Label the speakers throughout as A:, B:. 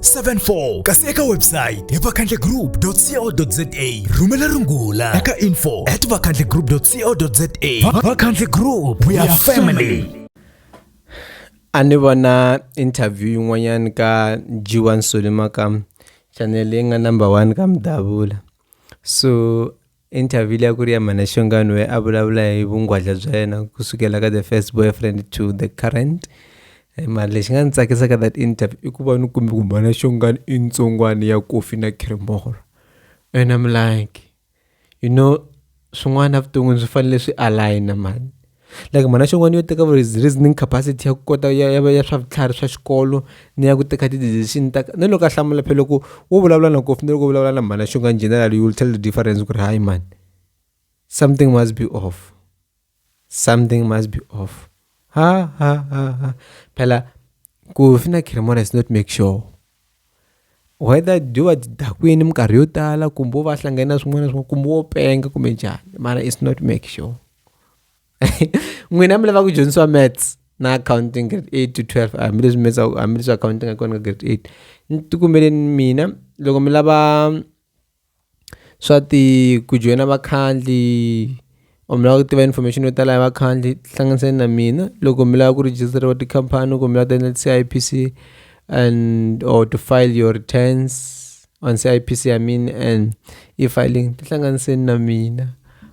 A: 74 kasi eka website hi vakhandlegroup.co.za rhumela rungula eka info at vakhandlegroup.co.za vakhandle group we are family
B: a ni vona interview yin'wanyana ka g1 solima ka chanele leyi nga number one ka mudavula so Interview leyi a ku ri ya Manashongani where a vulavula hi vungwadla bya yena ku sukela ka the first boyfriend to the current eh, mara lexi nga ni tsakisaka that interview i ku va ni kumbe ku Manashongani i ntsongwani ya kofi na cremora and I'm like you know swin'wana evuton'wini swi fanele swi aligna mani like mhana xin'wana yo teka reasoning capacity ya ku kota ya ya ya swa vutlhari swa xikolo ni ya ku teka ti-decision ta ni loko a hlamula phela loko wo vulavula na kofi ni loko vulavula na mhana xin'wana in general you will tell the difference ku ri hayi mani something must be off something must be off ha ha ha ha phela kofi na cremona is not make sure whether byo va byi dakwini minkarhi yo tala kumbe wo va hlangane na swin'wana na swin'wana kumbe wo penga kumbe njhani mara it's not make sure n'wina mi lava ku dyondzisiwa maths na accounting grade eight to twelve hambileswi maths hambileswi accounting a kona ka grade eight ni tikumbeleni mina loko mi lava swa ti ku joyina vakhandli or mi lava ku tiva information yo tala hi vakhandli tihlanganisani na mina loko mi lava ku rejistariwa tikhampani kumbe mi lava ku ta endla ti-C_I_P_C and or to file your returns on C_I_P_C I mean and e-filing tihlanganiseni na mina.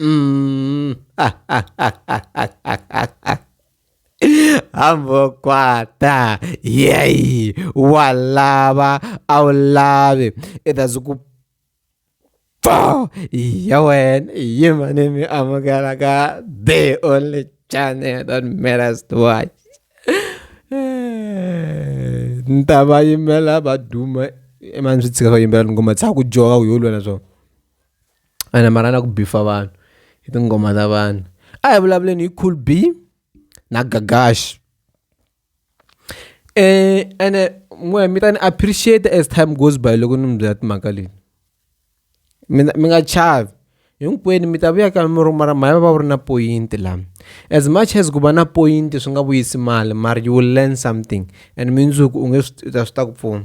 B: Mm. Ambokwata, yay, walava, awulavi, it has ku pfa ya wena yi mane mi amukela ka the only channel that matters to watch ni ta va yimela va duma emani swi tshika va yimbelela ngoma tsaka ku joka ku yo lwela swona ene mara a na ku beef-a vanhu hi tinghoma ta vanhu a hi vulavuleni hi cool b na gagash um ene n'we mi ta ni appreciate as time goes by loko ni mi byela timhaka leti mina mi nga chavi hinkwenu mi ta vuya ka mi ruma ra mhaya va va wu ri na poyinti laha as much as ku va na poyinti swi nga vuyisi mali mara you will learn something and mindzuku u nge swi ta swi ta ku pfuna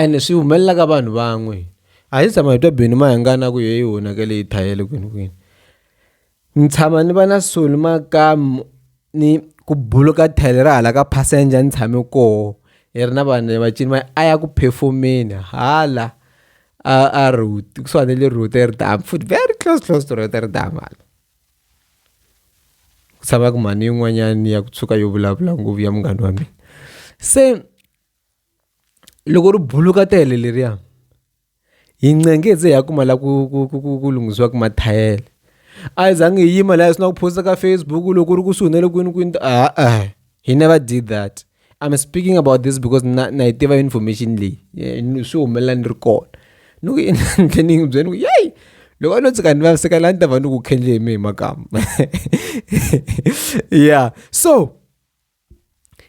B: Ene swi humelela ka vanhu van'we a hi se tshama hi twa Benny Mayengani a ku heyi hi onhakele hi thayele kwini kwini ni tshama ni va na swihi ni makamu ni ku buluka thayileri ra hala ka passenger ni tshame koho hi ri na vanhu va cini va a ya ku phefomeni hala a a kusuhani na le Roodepoort futhi very close close to Roodepoort hala. ku tshamaka mhani yin'wanyana ya ku tshuka yo vulavula ngopfu ya munghana wa mina se loko ri buluka tele leriya hi ncenghe hi ze hi ya kuma la ku ku ku ku ku lunghisiwaka mathayere a hi zangi hi yima lahaya swi na ku post-a ka Facebook loko u ri kusuhi na le kwini kwini a-e he never did that. I'm speaking about this because na na yi tiva information leyi eh, swi humelela ni ri kona ni ku endle ni n'wi byela ni ku yeyi loko a no tsika ni vaviseka laha ni ta va ni ku khendle hi mi hi makama yeah so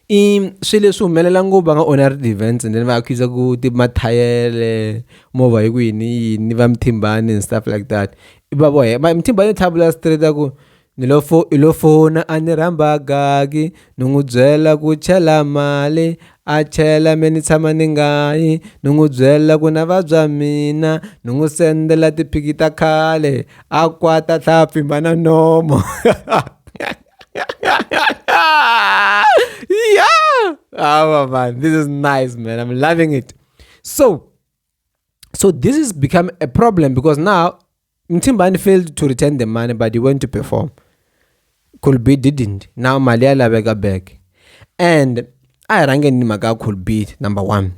B: i swi leswi humelela ngopfu va nga onha ri events and then va accusa ku ti mathayele movha hi ku yini yini va mithimbani and stuff like that va vohe mthimbani tlhavula straight a ku ni lo fo i lo fona a ni rhamba gagi ni n'wi byela ku chela mali a chela me ni tshama ni nga yi ni n'wi byela ku na vabya mina ni n'wi sendela tiphiki ta khale a kwata tlhaya pfimba na nomo yeah oh man this is nice man i'm loving it so so this is become a problem because now Mthimbani failed to return the money but he went to perform cool beat didn't now mali ya laveka back and a hi rhangeni ni mhaka ya cool beat number one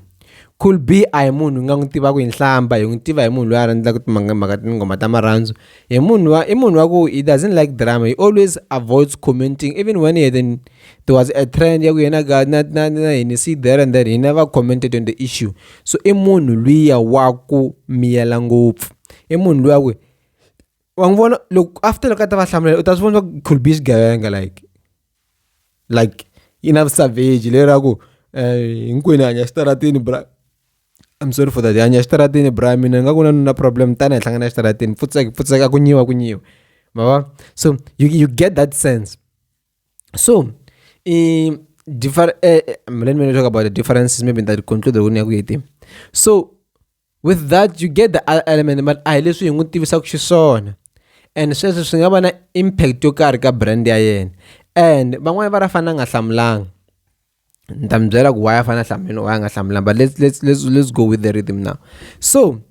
B: cool b a hi munhu nga n'wi tivaka hi nhlamba hi n'wi tiva hi munhu loyi a rhandzaka timhaka tinghoma ta marhandzu hi munhu wa i munhu wa ku he doesn't like drama he always avoids commenting even when he then there was a trend ya ku yena ka na na na hini see there and there he never commented on the issue so i munhu luya wa ku miyela ngopfu i munhu luya ku wa n'wi vona loko after loko a ta va hlamula u ta swi vona swa ku could be xigevenga like like yi na savage le ra ku eh, hinkwenu hanya xitaratini bra I'm sorry for that hanya xitaratini bra mina ni nga ku na na problem tani hi hlangana xitaratini pfutseka pfutseka ku nyiwa ku nyiwa ma va so you, you get that sense so um, differ, uh, let me talk about the differences maybe that conclude ku ni ya ku yi so with that you get the other element but a hi leswi hi n'wi tivisaka xiswona and sweswo swi nga va na impact yo karhi ka brand ya yena and van'wani va ra fana nga hlamulanga ni ta mi byela ku why a fana hlamuleni why a nga hlamulanga but let's, let's, let's, let's go with the rhythm now so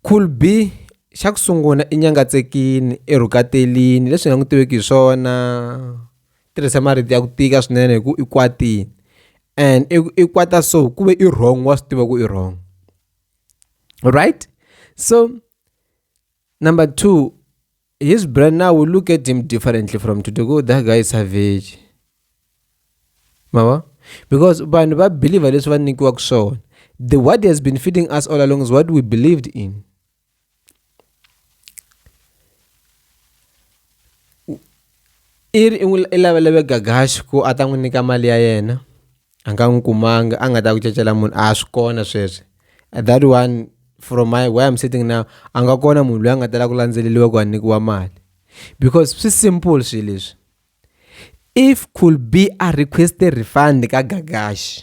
B: cool b xa ku sungula i nyangatsekini i rhukatelini leswi hi nga n'wi tiveki hi swona tirhise marito ya ku tika swinene hi ku i kwatile and i i kwata so ku ve i wrong wa swi tiva ku i wrong right so number two his brand now we look at him differently from today go that guy is savage mava because vanhu va believer leswi va nyikiwaka swona the what has been feeding us all along is what we believed in i ri i n'wi i lavelele Gagash ku a ta n'wi nyika mali ya yena a nga n'wi kumanga a nga ta ku cacela munhu a swi kona sweswi at that one from my where I'm sitting now a nga kona munhu loyi a nga ta la ku landzeleriwa ku a nyikiwa mali because swi simple swi leswi if could be a request-e refund ka Gagash.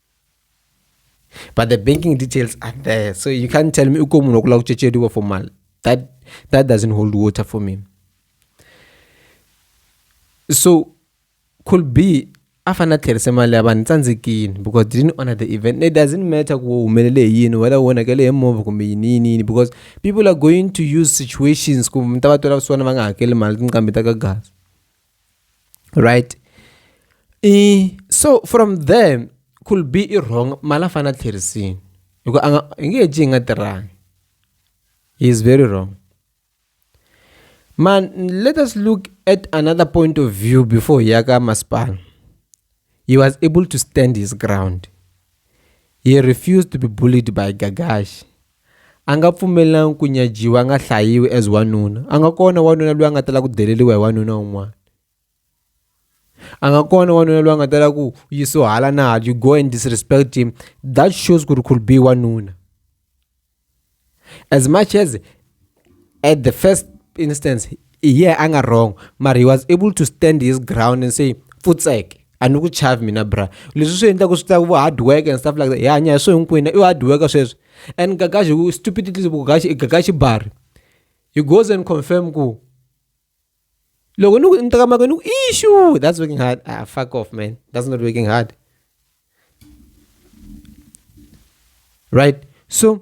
B: but the banking details are there so you can't tell me uko munhu wakulava kuchecheriwa for mali that, that doesn't hold water for me so could be a fanele a tlherisa mali ya vanhu tsandzekini because didn't honor the event it doesn't matter ku humelele hi yini whether wonakele hi movha kumbe yini yini yini because people are going to use situations ku mi ta va twela vusiwana va nga hakeli mali tinqambi ta ka gazi right i so from there could be i wrong mala fana tlherisini hi ku a nga hi nge ji hi nga tirhangi he is very wrong man let us look at another point of view before ya ka masipala he was able to stand his ground he refused to be bullied by gagashi A nga pfumelelanga ku nyajiwa a nga hlayiwi as wanuna a nga kona wanuna loyi a nga tala ku deleriwa hi wanuna un'wana a nga kona wanuna loyi a nga tala ku yisiwa hala na hala you go and disrespect him that shows ku ri could be wanuna as much as. at the first instance yeah a nga wrong mara he was able to stand his ground and say futsek a ni ku chavi mina bra leswi swi endlaka swi tlaka vo hard work and stuff like that hi hanya hi swo hinkwenu i hard work sweswo and gagaxi ku stupidly ku gagaxi i gagaxi bari he goes and confirm ku loko ni ku ni teka mako ni ku ishu that's working hard ah fuck off man that's not working hard right so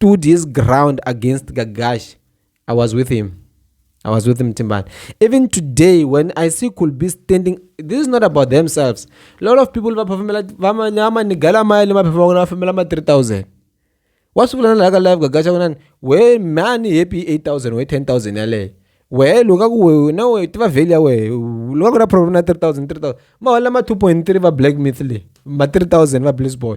B: stood his ground against Gagash. I was with him. I was with him, Timban. Even today, when I see Kulbi standing, this is not about themselves. A lot of people, what's like a life gagacha we man happy 8000 we 10000 yale we luka ku we na we tiva value ya we luka ku na problem na 3000 3000 ma wala ma 2.3 va black myth le ma 3000 va bliss boy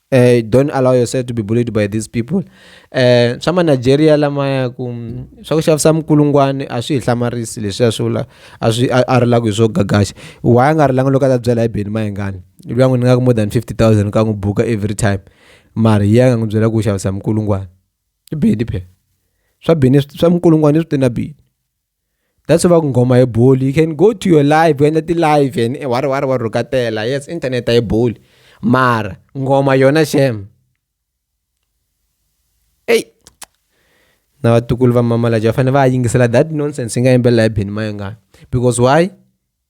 B: eh, don't allow yourself to be bullied by these people eh, swa manigeria lamaya ku mm, swa ku xavisa mikulungwani a swi hi hlamarisi leswiya swi vula a swi a ri lava ku hi swo gagaxa wa a nga ri langa loko a ta byela hi beni mayingani luya n'wi ni nga ku more than 50 000 ka n'wi buka every time mara yi ya nga n'wi byela ku xavisa mikulungwani i beni phela swa beni swa mikulungwani swi te na beni that's why va ku nghoma hi boli you can go to your live ku endla ti-live and eh, wa ri wa ri wa rhukatela yes internet a yi boli mara nghoma yona shem eyi na vatukulu va mamalaja va fanele va yingisela that nonsense yi nga yimbelela hi beni mayengani because why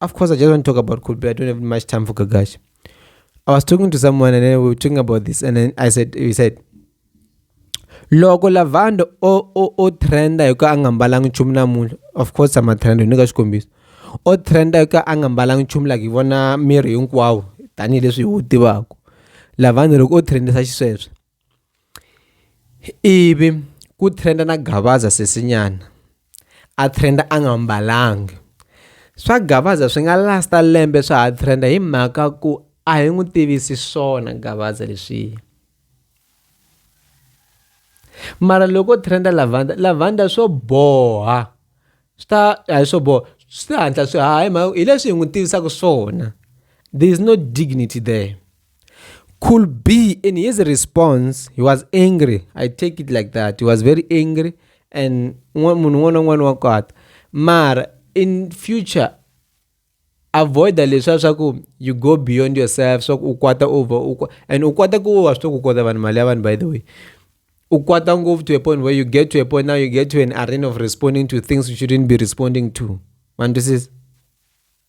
B: Of course, I just want to talk about Coldplay. I don't have much time for Gagash. I was talking to someone and then we were talking about this, and then I said, he said, loko lavando o o o trenda hi ku a nga mbalanga nchumu namuntlha of course ama trenda ni ka xikombiso o trenda hi ku a nga mbalanga nchumu like hi vona miri hinkwawo tanihileswi hi wu tivaka lavando loko o trendisa xisweswo ivi ku trenda na gavaza sesinyana a trenda a nga mbalanga swa gavaza swi nga lasta lembe swa ha trenda hi mhaka ku a hi n'wi tivisi swona gavaza leswiya mara loko trenda lavanda lavanda swo boha swi ta a hi swo boha swi ta hatla swi haha hi mhaka hi leswi hi n'wi tivisaka swona there is no dignity there Could be in his response, he was angry. I take it like that. He was very angry and one one on one got. Mar in future avoid the leswa swa ku you go beyond yourself swa ku u over u and u kwata ku wa swi ku kota vanhu mali ya vanhu by the way u kwata ngopfu to a point where you get to a point now you get to an arena of responding to things you shouldn't be responding to ma twisisa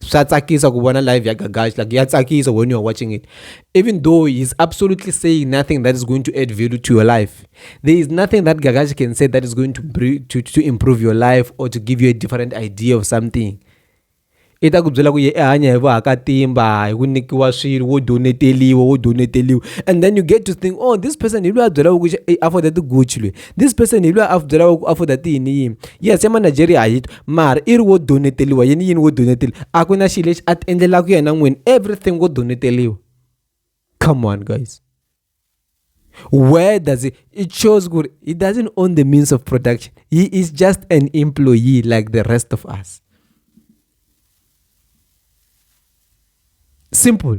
B: swa tsakisa ku vona live ya gagash like ya tsakisa when you are watching it even though he's absolutely saying nothing that is going to add value to your life there is nothing that gagash can say that is going to, to, to improve your life or to give you a different idea of something i ta ku byela ku ye i hanya hi vahakatimba hi ku nyikiwa swilo wo doneteliwa wo doneteliwa and then you get to think oh this person hi loyi a byelaka ku i afforda tiguchi loyi this person hi loyi a byelaka ku afforda tiyini yini yes emanigeria a hi mara i ri wo doneteliwa yini yini wo doneteliwa a ku na xilo lexi a ti endlelaka yena n'wini everything wo doneteliwa come on guys where does it it shows good he doesn't own the means of production he is just an employee like the rest of us simple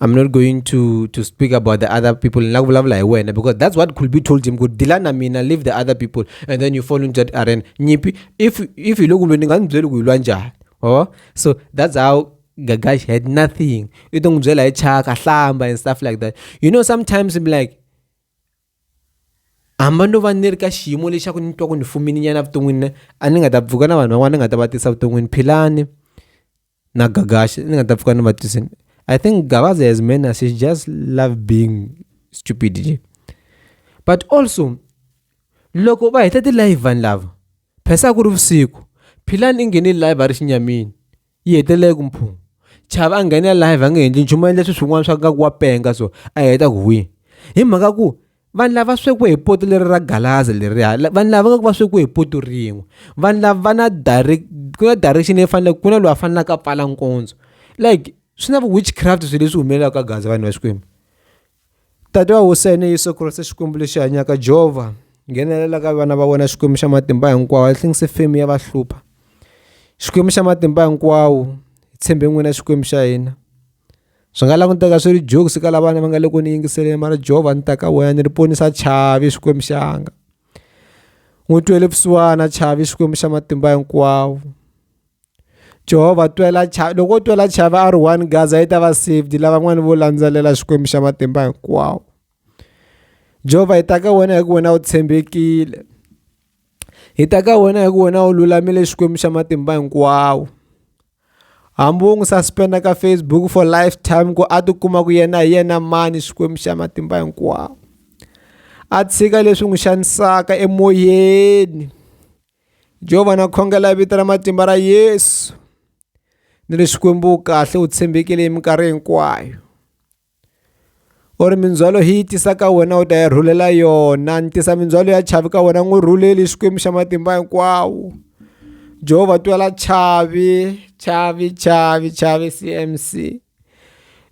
B: I'm not going to to speak about the other people in love like when because that's what could be told him good dilana mina leave the other people and then you fall into that arena nyipi if if you look ndinganzweli kuyilwa njani oh so that's how Gagash had nothing You don't itongizwela ichaka hlamba and stuff like that you know sometimes I'm like hamba ndo va ni ri ka xiyimo lexaku ni twa ku ni fumini nyana vuton'wini a ni nga ta pfuka na vanhu van'wana ni nga ta va tisa vuton'wini philani na gagashi ni nga ta pfuka ni va tisini i think gavaza has many she just love being stupid nje but also loko va heta ti-live vanhu lava phesa ku ri vusiku philani i nghene live a ri xinyamini yi hetelele ku mphungu chava a nghene live a nge endli nchumu endla swilo swin'wana swa nga ku wa penga so a heta ku hwi hi mhaka ku vanhu lava swekiwe hi poto leri ra galaza leriya vanhu lava nga ku va swekiwe hi poto rin'we vanhu lava va na direct ku na direction leyi faneleke ku na loyi a fanelaka a pfala nkondzo like swi na witchcraft swilo leswi humelelaka ka gaza vanhu va xikwembu tata wa hosene yesu kreste xikwembu lexi hanyaka jehova nghenelela ka vana va wena xikwembu xa matimba hinkwawo i think se femi ya va hlupha xikwembu xa matimba hinkwawo hi tshembe n'wina xikwembu xa hina swi nga languteka swi ri jokes ka lavana va nga le ku ni yingiseleni mara jehova ni ta ka wena ni ri ponisa chavi xikwembu xanga n'wi twele vusiwana chavi xikwembu xa matimba hinkwawo jehova twela chavi loko wo twela chavi a ri one gaza yi ta va saved lavan'wani vo landzelela xikwembu xa matimba hinkwawo jehova hi ta ka wena hi ku wena u tshembekile hi ta ka wena hi ku wena u lulamile xikwembu xa matimba hinkwawo hambi wo n'wi suspenda ka facebook for life time ku a tikuma ku yena hi yena mani xikwembu xa matimba hinkwawo a tshika leswi n'wi xanisaka emoyeni jehovha na khongela vito ra matimba ra yesu ni ri xikwembu kahle u tshembekile hi minkarhi hinkwayo u ri mindzhwalo hi yi tisa ka wena u ta yi rhulela yona ni tisa mindzhwalo ya chavi ka wena n'wi rhuleli xikwembu xa matimba hinkwawo jehovha twela chavi chavi chavi chavi cmc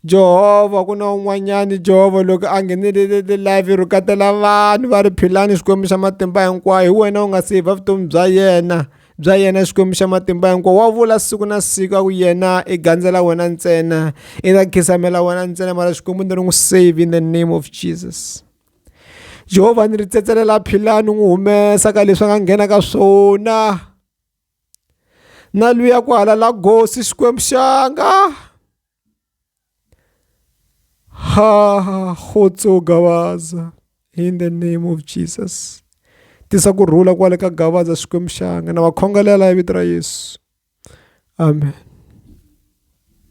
B: jehovha ku na un'wanyani jehovha loko a nghenelele live ro katela vanhu va ri philani xikwembu xa matimba hinkwayo hi wena u nga se hi va vutomi bya yena bya yena xikwembu xa matimba hinkwawo wa vula siku na siku a ku yena i gandzela wena ntsena i ta khisamela wena ntsena mara xikwembu ni ri n'wi save in the name of jesus jehovha ni ri tsetselela phila ni n'wi humesa ka leswi a nga nghena ka swona na luya ku halala gosi xikwembu xanga ha ha khotso gavaza in the name of jesus tisa ku rhula kwale ka gavaza xikwembu xanga na va khongelela hi vito ra yesu amen